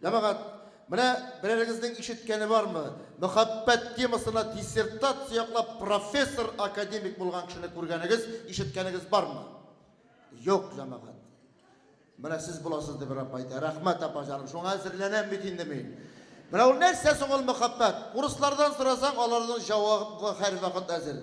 Җәмәгать, менә берәрегезнең ишеткәне бармы, мөхәббәт темасына диссертация яклап профессор, академик булган кешене күргәнегез, ишеткәнегез бармы? Юк, җәмәгать. Менә сез буласыз, дип Рабб әйтә. Рәхмәт, апа җаным, шуңа әзерләнәм бит инде мин. Менә ул нәрсә соң ул мөхәббәт? Урыслардан сорасаң, аларның җавабы һәрвакыт әзер.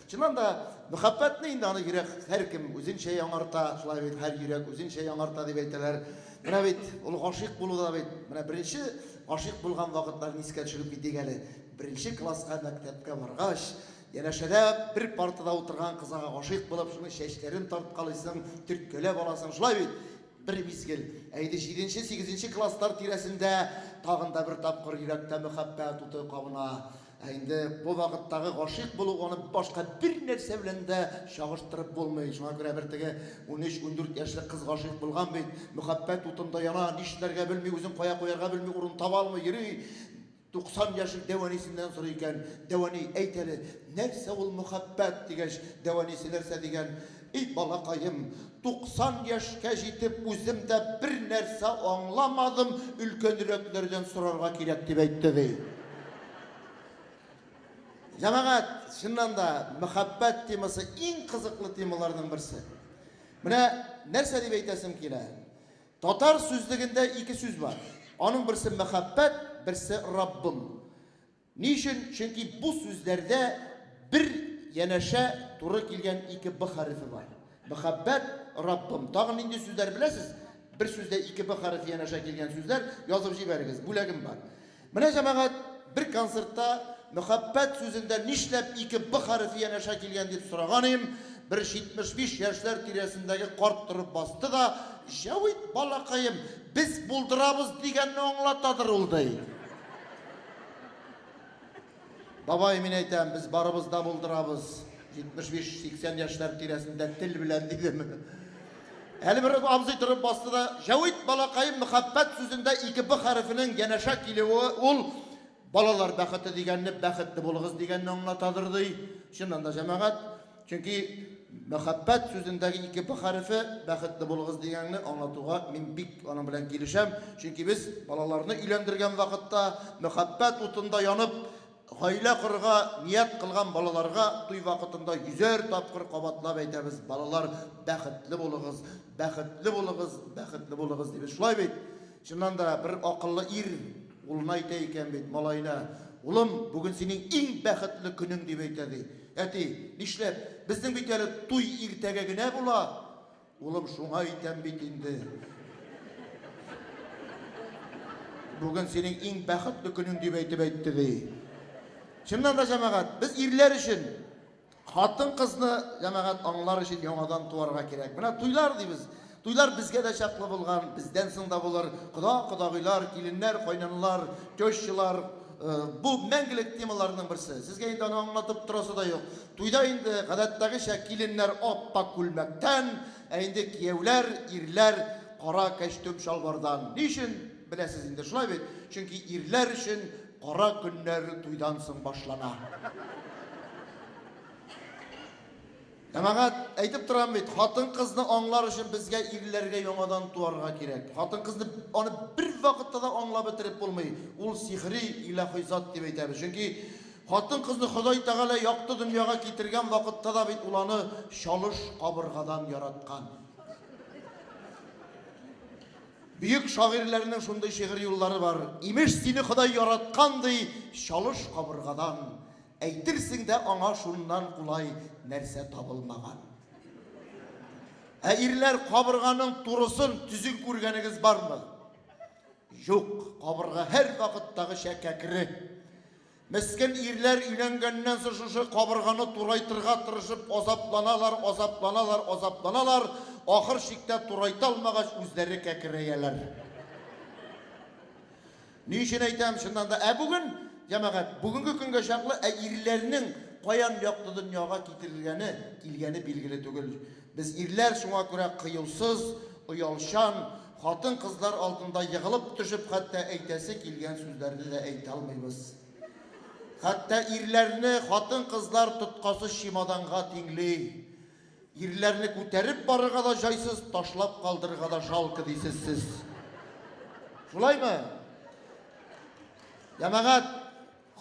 Чыннан да, мәхәббәтне инде аны йөрәк һәркем үзенчә яңарта, шулай бит, һәр йөрәк үзенчә яңарта дип әйтәләр. Менә бит ул гашыйк булу да бит, менә беренче гашыйк булган вакытларны искә төшереп китик әле. Беренче класска мәктәпкә баргач, янәшәдә бер партада утырган кызга гашыйк булып, шуның чәчләрен тарткалыйсың, төрткәләп аласың, шулай бит? Бер мизгел, ә инде җиденче, сигезенче класслар тирәсендә тагын да бер тапкыр йөрәктә мәхәббәт уты кабына. Ә инде бу вакыттагы гашыйк булу аны башка бер нәрсә белән дә чагыштырып булмый. Шуңа күрә бер теге 13-14 яшьлек кыз гашыйк булган бит, мөхәббәт утында яна, нишләргә белми, үзен кая куярга белми, урын таба алмый йөри. 90 яшьлек дәвәнисеннән сорый икән, Дәвәни, әйт әле, нәрсә ул мөхәббәт, дигәч, дәвәнисе нәрсә дигән, И балакаем, 90 яшькә җитеп үзем дә бернәрсә аңламадым, өлкәнрәкләрдән сорарга кирәк, дип әйтте, ди. Җәмәгать, чыннан да, мәхәббәт темасы иң кызыклы темаларның берсе. Менә нәрсә дип әйтәсем килә. Татар сүзлегендә ике сүз бар. Аның берсе мәхәббәт, берсе Раббым. Ни өчен? Чөнки бу сүзләрдә бер янәшә туры килгән ике Б хәрефе бар. Мөхәббәт, Раббым. Тагын нинди сүзләр беләсез? Бер сүздә ике Б хәрефе янәшә килгән сүзләр язып җибәрегез, бүләгем бар. Менә, җәмәгать, бер концертта мөхәббәт сүзендә нишләп ике Б хәрефе янәшә килгән дип сораган идем, бер 75 яшьләр тирәсендәге карт торып басты да, Җәвит балакаем, без булдырабыз дигәнне аңлатадыр ул, ди. Бабай, мин әйтәм, без барыбыз да булдырабыз. 75-80 яшьләр тирәсендә тел белән дидем. Әле бер абзый торып басты да, Җәвит балакаем мәхәббәт сүзендә ике б хәрефенең янәшә килүе ул балалар бәхете дигәнне бәхетле булыгыз дигәнне аңлатадыр ди. Чыннан да җәмәгать Чөнки мәхәббәт сүзендәге ике б хәрефе бәхетле булыгыз дигәнне аңлатуга мин бик аның белән килешәм. Чөнки без балаларны өйләндергән вакытта, мәхәббәт утында янып, гаилә корырга ният кылган балаларга туй вакытында йөзәр тапкыр кабатлап әйтәбез, балалар, бәхетле булыгыз, бәхетле булыгыз, бәхетле булыгыз, дибез. Шулай бит? Чыннан да, бер акыллы ир улына әйтә икән бит, малаена, Улым, бүген синең иң бәхетле көнең, дип әйтә, ди. Әти, Нишләп? Безнең бит әле туй иртәгә генә була. Улым, Шуңа әйтәм бит инде. Бүген синең иң бәхетле көнең, дип әйтеп әйтте, ди. Чыннан да, җәмәгать, без ирләр өчен. Хатын-кызны, җәмәгать, аңлар өчен яңадан туарга кирәк. Менә туйлар дибез. Туйлар безгә дә чаклы булган, бездән соң да булыр. Кода-кодагыйлар, киленнәр, кайнанлар, тещалар, бу мәңгелек темаларның берсе. Сезгә инде аны аңлатып торасы да юк. Туйда инде, гадәттәгечә, киленнәр ап-ак күлмәктән, ә инде кияүләр, ирләр кара кәчтүм-чалбардан. Ни өчен, беләсез инде, шулай бит? Чөнки ирләр өчен Кара көннәре туйдан соң башлана. Җәмәгать, әйтеп торам бит, хатын-кызны аңлар өчен безгә ирләргә яңадан туарга кирәк. Хатын-кызны аны бер вакытта да аңлап бетереп булмый. Ул сихри, илаһи зат дип әйтәбез. Чөнки хатын-кызны Ходай Тәгалә якты дөньяга китергән вакытта да бит ул аны чалыш кабыргадан яраткан. Бөек шагыйрьләрнең шундый шигырь юллары бар, Имеш, сине Ходай яраткан, ди, чалыш кабыргадан, Әйтерсең дә аңа шуннан кулай нәрсә табылмаган. Ә ирләр кабырганың турысын, төзен күргәнегез бармы? Юк, кабырга һәрвакыттагыча кәкре. Мескен ирләр өйләнгәннән соң шушы кабырганы турайтырга тырышып азапланалар, азапланалар, азапланалар, ахыр чиктә турайта алмагач үзләре кәкерәяләр. Ни өчен әйтәм, чыннан да, ә бүген, җәмәгать, бүгенге көнгә чаклы, ә ирләрнең каян якты дөньяга китерелгәне, килгәне билгеле түгел. Без ирләр шуңа күрә кыюсыз, оялчан, Хатын-кызлар алдында егылып төшеп хәтта әйтәсе килгән сүзләрне дә әйтә алмыйбыз. Хәтта ирләрне хатын-кызлар тоткасы чемоданга тиңли. Ирләрне күтәреп барырга да җайсыз, ташлап калдырырга да жалко дисез сез. Шулаймы? Ямагат,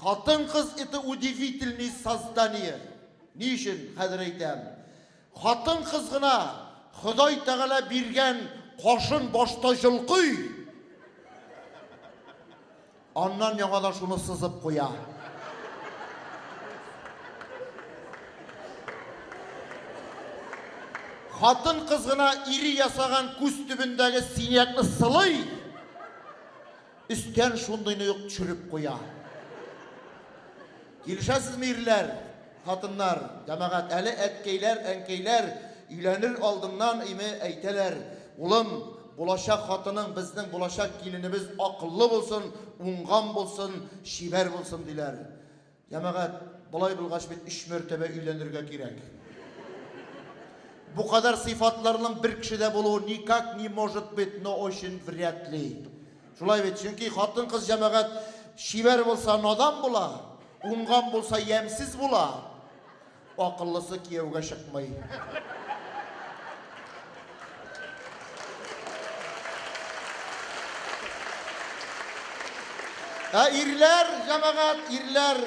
хатын-кыз это удивительные создания. Ни өчен хәзер әйтәм? Хатын-кыз гына Ходай Тәгалә биргән кашын башта җолкый, аннан яңадан шуны сызып куя. Хатын-кыз гына ире ясаган күз төбендәге синякны сылый, Өстән шундыйны ук төшереп куя. Килешәсезме, ирләр, хатыннар, җәмәгать, әле әткәйләр, әнкәйләр өйләнер алдыннан име әйтәләр, Улым, булачак хатының, безнең булачак киленебез акыллы булсын, уңган булсын, чибәр булсын, диләр. Җәмәгать, болай булгач бит өч мәртәбә өйләнергә кирәк. Бу кадәр сыйфатларның бер кешедә булуы никак не может быть, но очень вряд ли. Шулай бит, чөнки хатын-кыз җәмәгать чибәр булса надан була, уңган булса ямьсез була. Акыллысы кияүгә чыкмый. Ә ирләр, җәмәгать, ирләр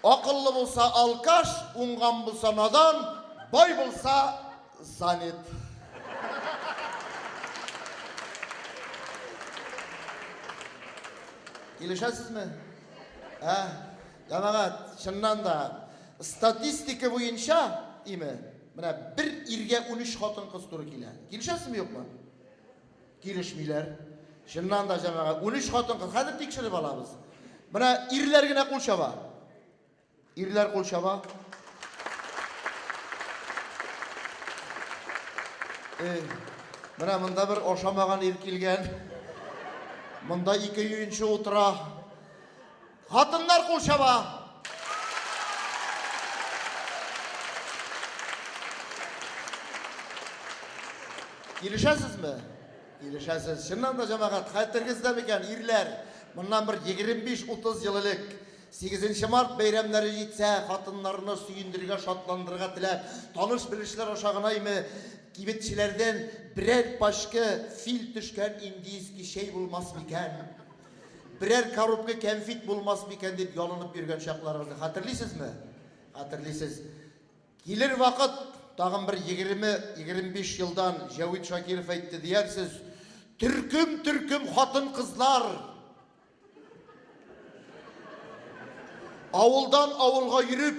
акыллы булса алкаш, уңган булса надан, бай булса занят. Килешәсезме? Ә? Җәмәгать, чыннан да, статистика буенча, име, менә бер иргә 13 хатын-кыз туры килә. Килешәсезме, юкмы? Килешмиләр. Чыннан да, җәмәгать, 13 хатын-кыз. Хәзер тикшереп алабыз. Менә ирләр генә кул чаба. Ирләр кул чаба. Эй, менә монда бер ашамаган ир килгән. Монда ике юенчы утыра. Хатыннар кул чаба. Килешәсезме? Килешәсез. Чыннан да җәмәгать, хәтергездә микән, ирләр, моннан бер 25-30 ел элек 8 март бәйрәмнәре җитсә, хатыннарны сөендергә, шатландырырга теләп, таныш-белешләр аша гынаймы, кибетчеләрдән берәр пачка фил төшкән индийский чәй булмас микән? Берәр коробка кәнфит булмас микән дип ялынып йөргән чакларыгызны хәтерлисезме? Хәтерлисез. Килер вакыт, тагын бер 20-25 елдан Җәвит Шакиров әйтте диярсез, төркем-төркем хатын-кызлар авылдан авылга йөреп,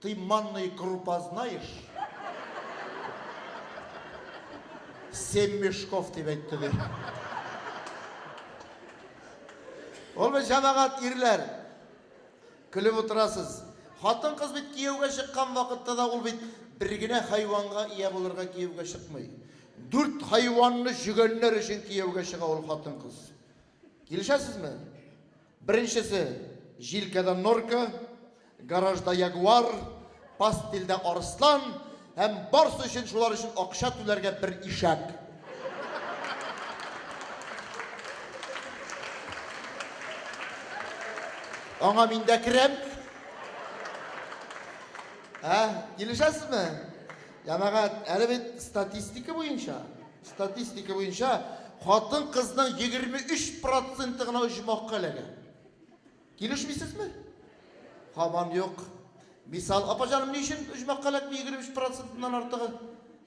Ты манный крупа знаешь? Семь мешков, дип әйтте, ди. Ул бит җәмәгать ирләр. Көлеп утырасыз. Хатын-кыз бит кияүгә чыккан вакытта да ул бит бер генә хайванга ия булырга кияүгә чыкмый. Дүрт хайванны җөгәннәр өчен кияүгә чыга ул хатын-кыз. Килешәсезме? Беренчесе, җилкәдә норка, гаражда ягуар, пастельдә арыслан һәм барсы өчен шулар өчен акча түләргә бер ишәк. Аңа мин дә керәм. Ә, килешәсезме? Җәмәгать, әле бит статистика буенча, Статистика буенча, хатын-кызның 23 проценты гына оҗмахка эләгә. Килешмисезме? Һаман юк. Мисал, апа җаным, ни өчен оҗмахка эләкми 23 процентыннан артыгы?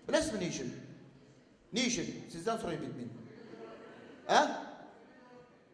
Беләсезме ни өчен? Ни өчен? Сездән сорыйм бит мин. Ә?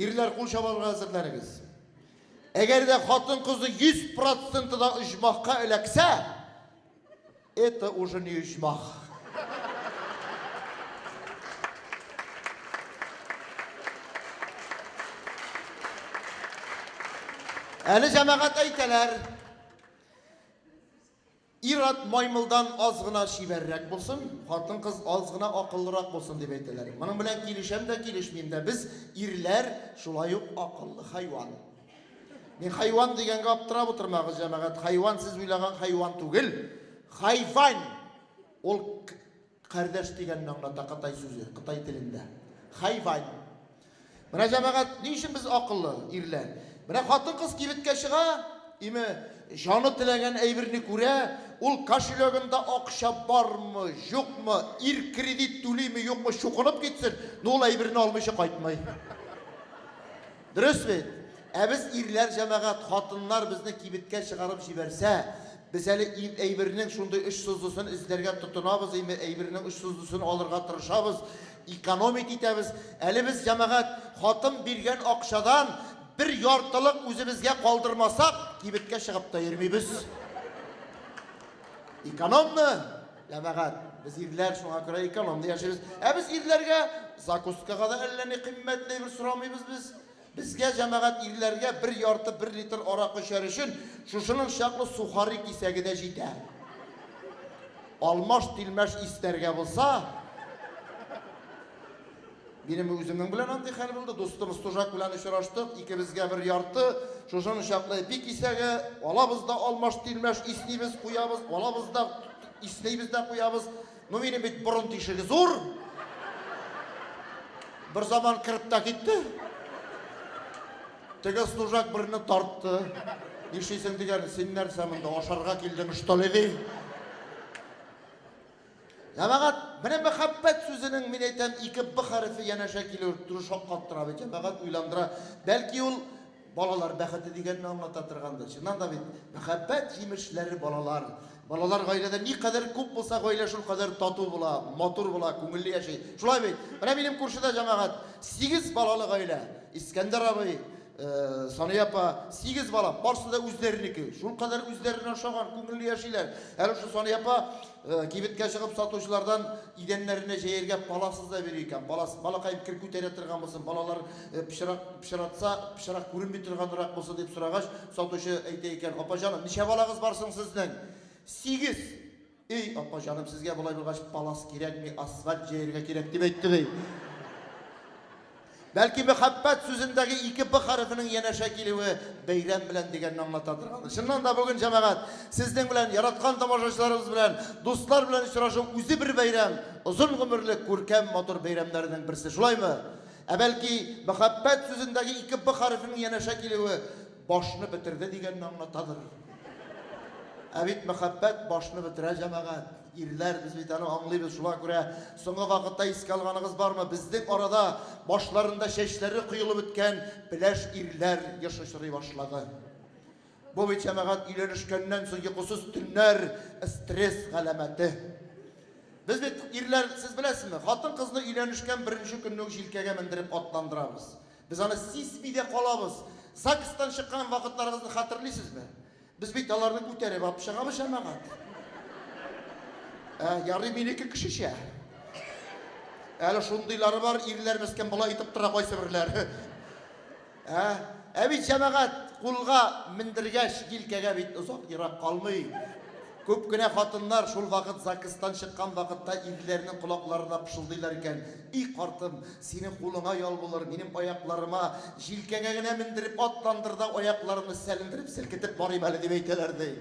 Ирләр кул чабарга әзерләнегез. Әгәр дә хатын-кызы 100% да оҗмахка эләксә, это уже не оҗмах. Әле җәмәгать әйтәләр. Ир-ат маймылдан аз гына чибәррәк булсын, хатын-кыз аз гына акыллырак булсын, дип әйтәләр. Моның белән килешәм дә, килешмим дә. Без, ирләр, шулай ук акыллы хайван. Мин хайван дигәнгә аптырап утырмагыз, җәмәгать, хайван сез уйлаган хайван түгел. Хайвань! Ул Кардәш дигәнне аңлата кытай сүзе, кытай телендә. Хайвань. Менә, җәмәгать, ни өчен без акыллы, ирләр? Менә хатын-кыз кибеткә чыга, име, җаны теләгән әйберне күрә, ул кошелегында акча бармы, юкмы, ир кредит түлиме, юкмы, чукынып китсен, но ул әйберне алмыйча кайтмый. Дөрес бит? Ә без ирләр җәмәгать, хатыннар безне кибеткә чыгарып җибәрсә, без әле әйбернең шундый очсызлысын эзләргә тотынабыз, әйбернең очсызлысын алырга тырышабыз, экономить итәбез. Әле без, җәмәгать, хатын биргән акчадан бер яртылык үзебезгә калдырмасак, кибеткә чыгып та йөрмибез. Экономмы? Җәмәгать, без ирләр, шуңа күрә экономда яшибез. Ә без ирләргә закускага да әллә ни кыйммәтле бер сорамыйбыз без. Безгә җәмәгать ирләргә бер ярты, бер литр арак эчәр өчен шушының чаклы сухари кисәге дә җитә. Алмаш-тилмәш иснәргә булса, Минем үземнең белән андый хәл булды. Дустым Стужак белән очраштык. Икебезгә бер ярты, шушыны чаклы эпи кисәге, алабыз да алмаш-тилмәш, иснибез, куябыз, алабыз да, иснибез дә куябыз. Ну, минем бит борын тишеге зур. Бер заман кереп тә китте. Теге Стужак берне тартты. Нишлисең дигән, син нәрсә монда ашарга килдең, что ли, ди. Җәмәгать, менә мәхәббәт сүзенең, мин әйтәм, ике Б хәрефе янәшә килү туры шаккаттыра бит, җәмәгать уйландыра. Бәлки ул балалар бәхете дигәнне аңлата торгандыр. Чыннан да бит, мәхәббәт җимешләре балалар. Балалар гаиләдә никадәр күп булса, гаилә шул кадәр тату була, матур була, күңелле яши. Шулай бит? Менә минем күршедә җәмәгать, сигез балалы гаилә. Искәндәр абый, Сания апа, сигез бала, барысы да үзләренеке. Шул кадәр үзләренә ошаган, күңелле яшиләр. Әле шул Сания апа Кибеткә чыгып сатучылардан идәннәренә җәяргә паласыз да бирә икән. Палас, балакаем, кер күтәрә торган булсын, балалар пычрак пычратса, пычрак күренми торганрак булсын, дип сорагач, сатучы әйтә икән, Апа җаным, ничә балагыз бар соң сезнең? Сигез! Өй, апа җаным, сезгә болай булгач, палас кирәкми, асфальт җәяргә кирәк, дип әйтте, ди. Бәлки мәхәббәт сүзендәге ике Б хәрефенең янәшә килүе бәйрәм белән дигәнне аңлатадыр аны. Чыннан да бүген, җәмәгать, сезнең белән, яраткан тамашачыларыбыз белән, дуслар белән очрашу үзе бер бәйрәм, озын гомерле, күркәм, матур бәйрәмнәренең берсе, шулаймы? Ә бәлки мәхәббәт сүзендәге ике Б хәрефенең янәшә килүе башны бетерде дигәнне аңлатадыр? Ә бит мәхәббәт башны бетерә, җәмәгать. Ирләр, без бит аны аңлыйбыз, шуңа күрә соңгы вакытта искә алганыгыз бармы, безнең арада башларында чәчләре коелып беткән пеләш ирләр еш очрый башлады. Бу бит, җәмәгать, өйләнешкәннән соң йокысыз төннәр, стресс галәмәте. Без бит, ирләр, сез беләсезме, хатын-кызны өйләнешкән беренче көнне үк җилкәгә мендереп атландырабыз. Без аны сизми дә калабыз. ЗАГСтан чыккан вакытларыгызны хәтерлисезме? Без бит аларны күтәреп алып чыгабыз, җәмәгать. Ә, ярый минеке кешечә. Әле шундыйлары бар, ирләр мескен болай итеп тора кайсыберләр. Ә, ә бит җәмәгать кулга мендергәч, җилкәгә бит озак ерак калмый. Күп кенә хатыннар шул вакыт ЗАГСтан чыккан вакытта ирләренең колакларына пышылдыйлар икән. И картым, синең кулыңа ял булыр, минем аякларыма, җилкәңә генә мендереп атландыр да, аякларымны сәлендереп, селкетеп барыйм әле, дип әйтәләр, ди.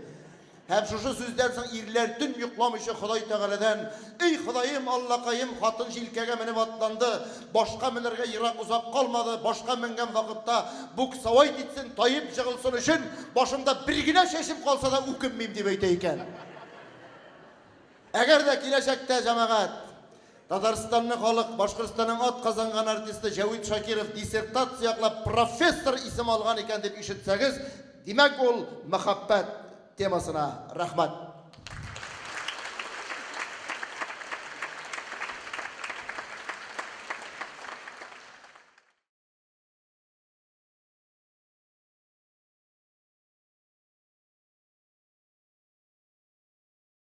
Һәм шушы сүздән соң ирләр төн йокламыйча Ходай Тәгаләдән, Эй, Ходаем, Аллакаем, хатын җилкәгә менеп атланды, башка менәргә ерак озак калмады, башка менгән вакытта буксовать итсен, таеп җыгылсын өчен, башымда бер генә чәчем калса да үкенмим, дип әйтә икән. Әгәр дә киләчәктә, җәмәгать, Татарстанны халык Башкортстанның атказанган артисты Җәвит Шакиров диссертация яклап профессор исеме алган икән дип ишетсәгез, димәк, ул мәхәббәт темасына. Рәхмәт.